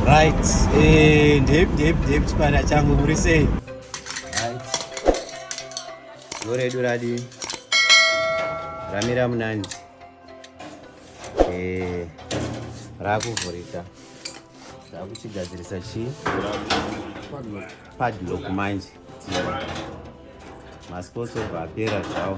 Right, eh, ndip ndip ndip chipanda changu muri sei? Right. Goredu radi. Ramira munanzi. Eh, rakuvhurika. Rakuchigadzirisa chii? Padlock manje. Masports over apera zvawo.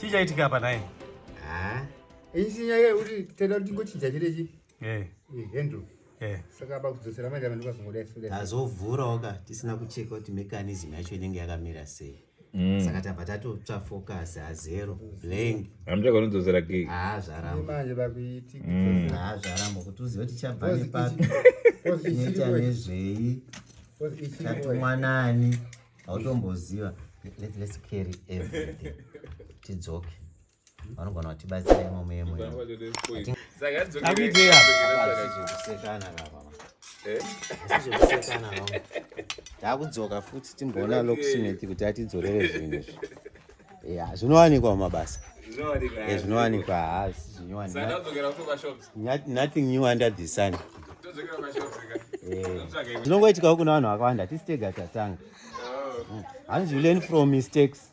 chii chaitika apa naye isi nyaya yekuti tenda kuti tingochinja chirechi eh. eh, handle eh. saka aba kudzosera maita vanhu vazongoda azovhurawo ka tisina kucheka kuti mechanism yacho inenge yakamira sei Mm. saka tabva tatotsva focus hazero blank hamuchaganodzosera gig haa zvaramba manje vakuitika Mm. haa zvaramba kuti uzive kuti chabva Course nepapi ichi- course ichiri neta kwe- nezvei course ichiri kwe- chatumwa nani hautomboziva Let- let's carry everything tidzoke vanogona kuti batsira imomo yemo takudzoka eh? futi timboona lokusineti kuti atidzorere zvinhu izvi ya zvinowanikwa mumabasa zvinowanikwa haasi zvinyowanothing new under the sun zvinongoitikawo kuna vanhu vakawanda tisitega tatanga oh. hmm. hanzi you learn from mistakes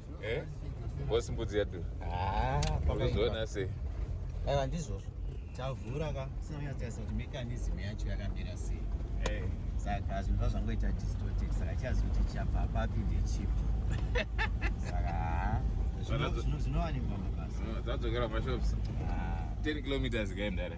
Eh? Boss mbudzi yadura. Ah, pakazviona sei? Aiwa ndizvozvo. Tavhura ka sina kunyatsotsa kuti mechanism yacho yakamira sei. Eh. Saka zvinhu zvazvangoita distorted saka chiyazi kuti chapa papi ndechipo. Saka zvinowanikwa mabasa. Dzadzokera mashops. Ah. 10 kilometers kaendare.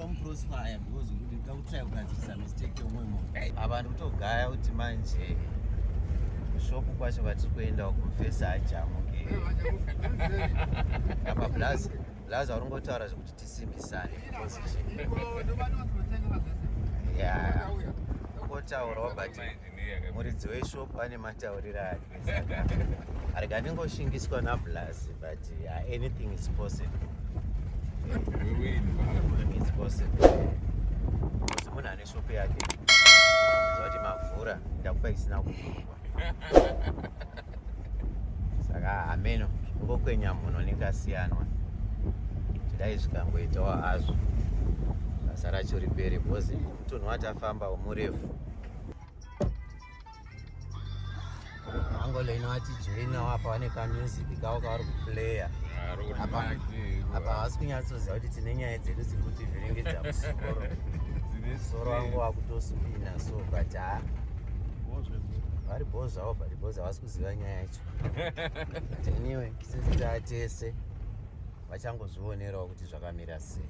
crossfire because kuti ndakutry kugadzirisa mistake yomwe munhu apa ndiri kutogaya kuti manje shop kwacho kwatiri kuenda uko face hajamuke apa plus plus vari ngotaura zvekuti tisimbisane ya kotaurawo but muridzi weshop ane matauriro ake arega ndingoshingiswa nablas but uh, anything is possible is possible kuti munhu ane shopo yake zvakuti mavhura ndakupa isina kuvhurwa saka hameno ngokwenya munhu nekasiyanwa chidai zvikangoitawo hazvo basa racho ripere bhozi mutunhu watafamba murefu Angolo inovati joina wapa vane ka music kavo kavari kuplaya apa havasi kunyatsoziva kuti tine nyaya dzedu dziri kuti vhiringidza musoro musoro wangu wakutospina so but ha vari bho zvavo but bho zvavasi kuziva nyaya yacho but anyway kisisitaa tese vachangozvionerawo kuti zvakamira sei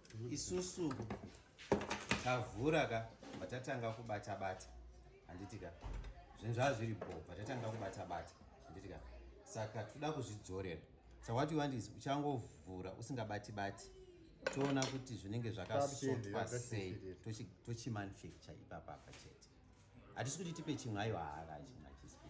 isusu tavhura ka vatatanga kubata bata handiti ka zvinhu zvava zviri bho vatatanga kubata bata handiti ka saka toda kuzvidzorera sa what you want is uchangovhura usingabati bati toona kuti zvinenge zvakasotwa sei tochimanufacture ipapapa chete hatisi kuti tipe chimwe ayo haaka achimwe achisipi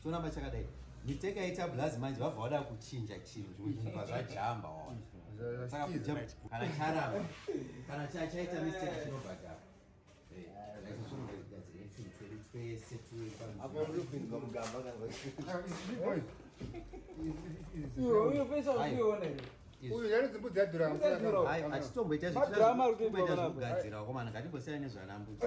choramba chakadai mistake yaita blaz manje vabva vada kuchinja chinhu zvimwe zvinhu vazvajamba waona saka kana charamba kana chaita mistake chinobhadhara achitomboita zvichitogadzira wakomana ngatimbosiyana nezvanambudzi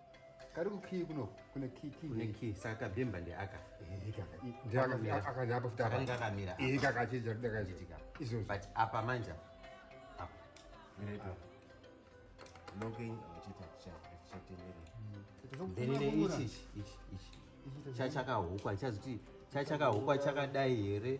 kari kukii kuno kune kikii saka kabhemba ndeaka akandapa futi akanga akamira kakachija kudakachitika izvozvo but apa manja apa ah. looking achiita chatenderera mm. then ine ichi ichi ichi chachakahukwa chazoti chachakahukwa chakadai here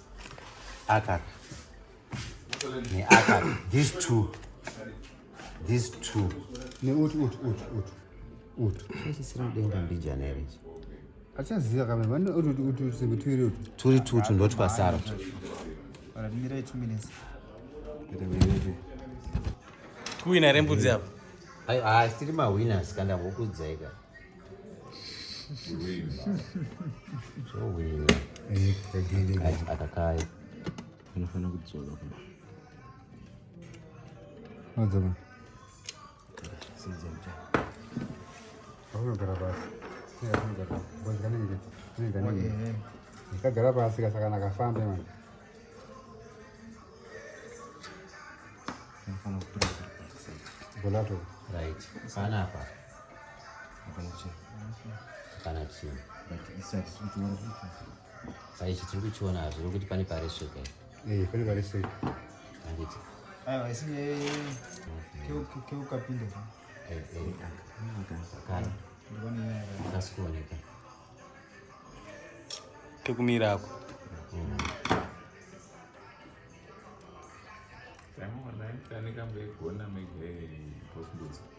Akaka. Ne akaka. These two. These two. Ne ut ut ut ut. Ut. Sisi sina denga mbijana here. Achaziva kama vano ut ut ut ut singu twiri ut. Twiri tu ut ndoti pasara. Ora mira 2 minutes. Ita mira. Kuina rembudzi apa. Ai ai stiri ma winners kanda vokudzeka. akakaya unofanira kudzoka Madzama. Paunogara pasi. Ndakagara pasi kasaka ndakafamba manje. Bolato. Right. Sana hapa. kana chii saichi tiri kuchiona hazvo nokuti pane paresveka eh, pane paresveka anditi aiwa isi keukapinda zvakara asi kuoneka kekumira ako Thank you.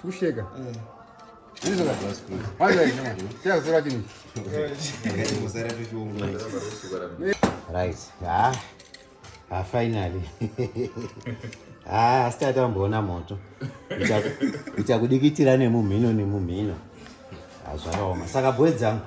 tusheka right ah ah finally ah asitati amboona moto ichakudikitira nemumhino nemumhino hazvakaoma saka bwe dzangu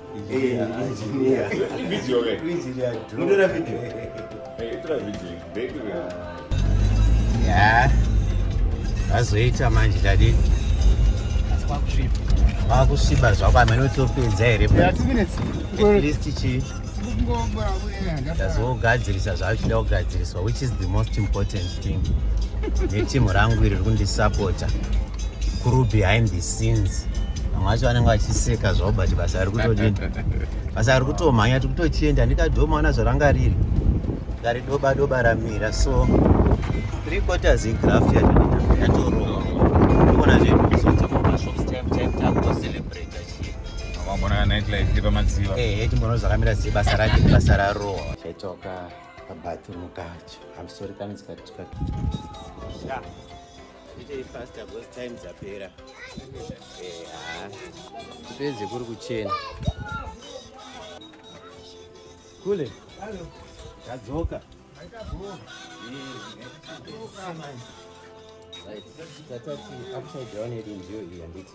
vazoita manje dadi vakusviba zvako amene utopedza here atleast chii ndazogadzirisa zvaachida kugadziriswa which is the most important neteam rangu iri rikundisapota kuru behind the scenes vamwe vacho vanenge vachiseka zvavo but basa ri kutodii basa ri kutomhanya tiri kutochienda ndikadomaona zvaranga riri ngaridoba doba ramira so three quarters igraft yatoroa ndikuona zvemuzodzomomashopstimtimtakutocelebrat vambonakanightlife pamadziva ehe timbono zvakamira sei basa rake basa raroa chaitoka pabathroom kacho i'm sorry kana dzikatika yeah. Ite fast because time dzapera. Eha. Peze kuri kuchena. Kule. Hello. Tadzoka. Right. Tatati upside down iri ndiyo iyi handiti.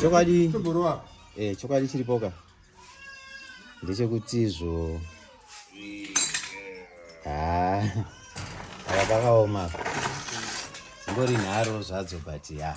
chokwadi eh, chokwadi chiripoka ndechekuti zvo haa aka pakaoma zingori nharo zvadzo but ya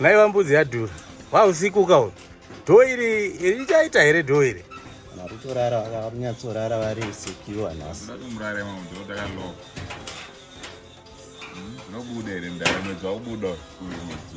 ngaiva mbudzi yadhura wausiku ukaona dhoo iri richaita here dhoo iri vari kutorara vanyatsorara vari sekiwa nhasi nobuda here mdara mwedzi waubuda uyu mwedzi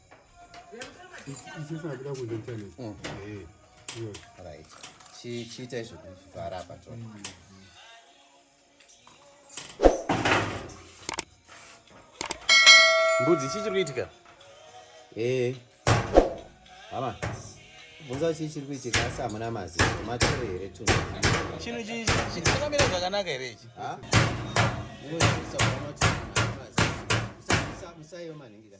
chiita izvo kuvhara apa to mbudzi chii chiri kuitika ee hama bvunza chii chiri kuitika asi hamuna maziso matore here tunu chinhu chii chakamira zvakanaka here ichi musaiyo manhingira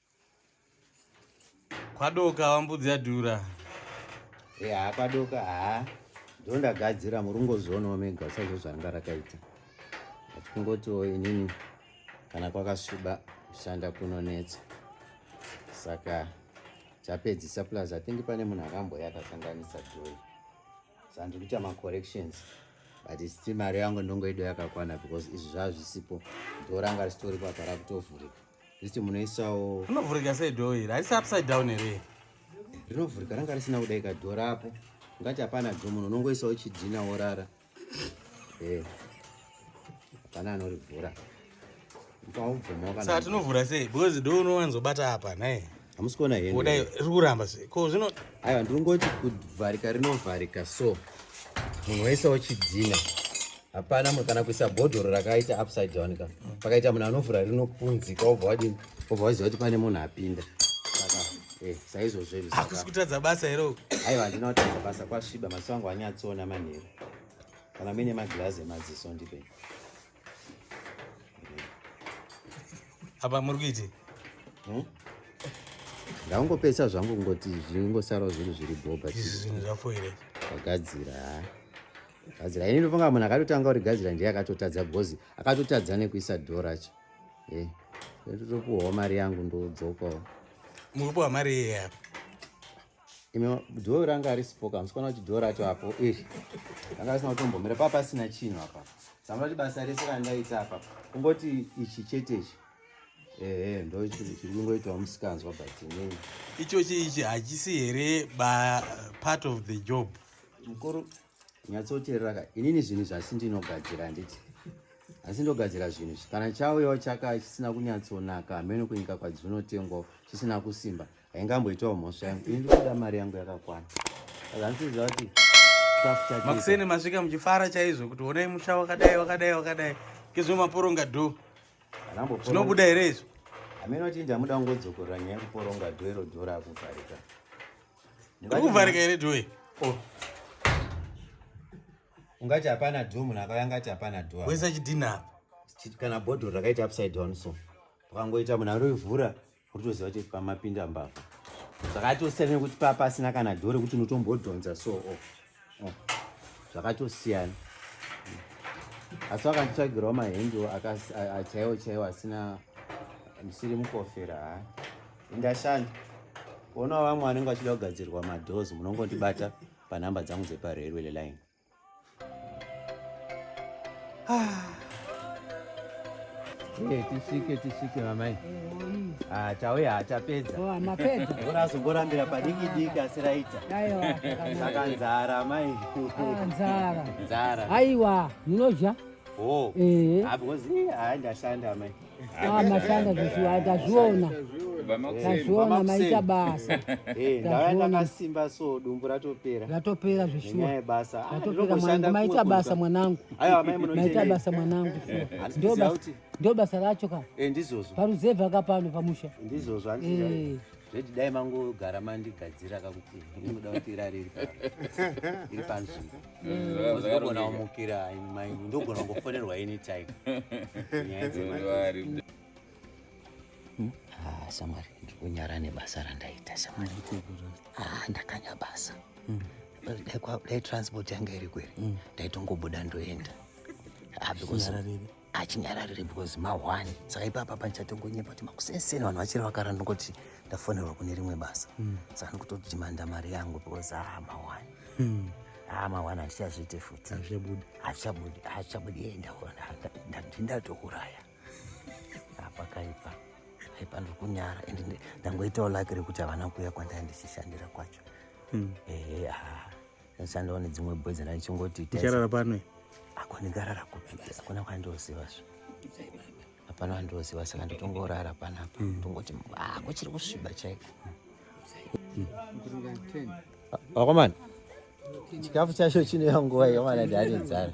Kwadoka wambudzi yadhura. Eya eh, kwadoka haa ndondagadzira murungozvionawo mega sezvo zvanga rakaita achikungotiwo inini kana kwakasviba kushanda kunonetsa saka chapedzisa plus i think pane munhu akamboya akakanganisa joy saka ndiri kuita macorrections but still mari yangu ndongoido yakakwana because izvi zvazvisipo ndoranga risitori kwapara kutovhurika Ziti munoisawo. Rinovhurika sei door iri? Haisi upside down here? Rinovhurika ranga risina kudai ka door apo. Ngati hapana door munhu unongoisawo chidhina worara. Eh. Hapana anorivhura. Ukaubvuma kana. Saka tinovhura sei? Because door unowanzobata apa nhai. hamusi kuona henri kuramba se ko zvino aiwa ndiri ngoti kuvharika rinovharika so munhu waisawo chidzina hapana munhu kana kuisa bhodhoro rakaita upside down ka pakaita munhu anovhura rinopunzika obva wadini obva waziva kuti pane munhu apinda saka eh, saizvozvohakusi ah, kutadza basa here uku aiwa handina kutadza basa kwasviba maziso angu anyatsoona manheru kana muine magirazi emaziso ndipei apa muri kuiti hmm? ndangopesa zvangu kungoti zvingosarawo zvinhu zviri bhoba izvi zvinhu zvafoire vagadzira gadzira ini ndofunga munhu akatotanga uri gadzira ndiye akatotadza because akatotadza nekuisa dho racho e eh, ndotopuwawo mari yangu ndodzokawo mukupuwa mari yeye apa ino dhoo ranga risipo ka musikaona kuti dhoo racho apo iri ranga risina kutombomira paa pasina chinhu apa sanga kuti basa rese randaita apa kungoti ichi chete ichi ehe ndo chiri kungoitawo musikanzwa but inini ichochi ichi hachisi here ba part of the job mukuru nyatsoteerera ka inini zvinhu zvasi ndinogadzira handiti asi ndogadzira zvinhu izvi kana chauyawo chaka chisina kunyatsonaka hameno kunyika kwadzvinotengwawo chisina kusimba haingamboitawo mhosva yangu ini ndikuda mari yangu yakakwana azanisiziva kuti makuseni masvika muchifara chaizvo kuti honai musha wakadai wakadai wakadai ngezvo maporonga dho zvinobuda here izvo amene kuti ndamuda kungodzokorora nyaya yekuporonga dho iro dho rakuvharika ndikuvharika here dho iyi oh. ungati hapana dho munhu akauya angati hapana dho wesa chidhina apa kana bhodhoro rakaita upside down so ukangoita munhu aroivhura Unotoziva kuti pamapinda mbavha zvakatosiyana nekuti paa pasina kana dhoo rekuti unotombodhonza so oh. Oh. zvakatosiyana asi vakanditsvagirawo mahendiwo chaiwo chaiwo asina ndisiri mukofera ha indashanda kuonawo vamwe vanenge vachida kugadzirwa madoors munongondibata panhamba dzangu dzeparerwele line Ah. Eh, tisvike tisvike mamai ah, chauya hachapedza oh, mapedza bora azongorambira padiki diki asi raita saka nzara amai ah, nzara nzara aiwa munodya oh. eh. ah, because hayi ndashanda amai Ah, mashanda zveshuwa tazviona tazviona maita basa eh, ndava ndakasimba so dumbu ratopera ratopera zveshuwa basa ah, ratopera mwanangu maita basa mwanangu maita basa mwanangu ndio basa racho ka eh, ndizvozvo paruzevha ka pano pamusha ndizvozvo eh. zveti dai mangogara mandigadzira kakuti ndinoda kuti irari iri panzvimbo ndogona kumukira maingu ndogona kungofonerwa any time nyaya dzemari hmm? ah, shamwari ndiri kunyara nebasa randaita shamwari ah, ndakanya basa hmm. dai transport yanga iri kweri hmm. ndaitongobuda ndoenda ah, achinyararire because mahwani saka ipapa pandichatongonyepa kuti makuseseni vanhu vachiri vakaranda kuti ndafonerwa kune rimwe basa mm. saka ndikutodhimanda mari yangu because aa ah, mahwani mm. aa ah, mahwani handichazviite futi hazvichabudi hazvichabudi ye ndatouraya apakaipa aipa ndiri kunyara and ndangoitawo laki rekuti havana kuuya kwandaya ndichishandira kwacho mm. ehe aa Ndichandawo nedzimwe boy dzana ndichingoti ticharara pano. Ako ndingarara kupi? Hakuna kwandoziva zvo. Hapana wandoziva saka ndotongorara panapa. Hmm. Tongoti ah kuchiri kusviba chaiko. Wakomana. Hmm. Chikafu chacho chine nguva yomana dzarinzara.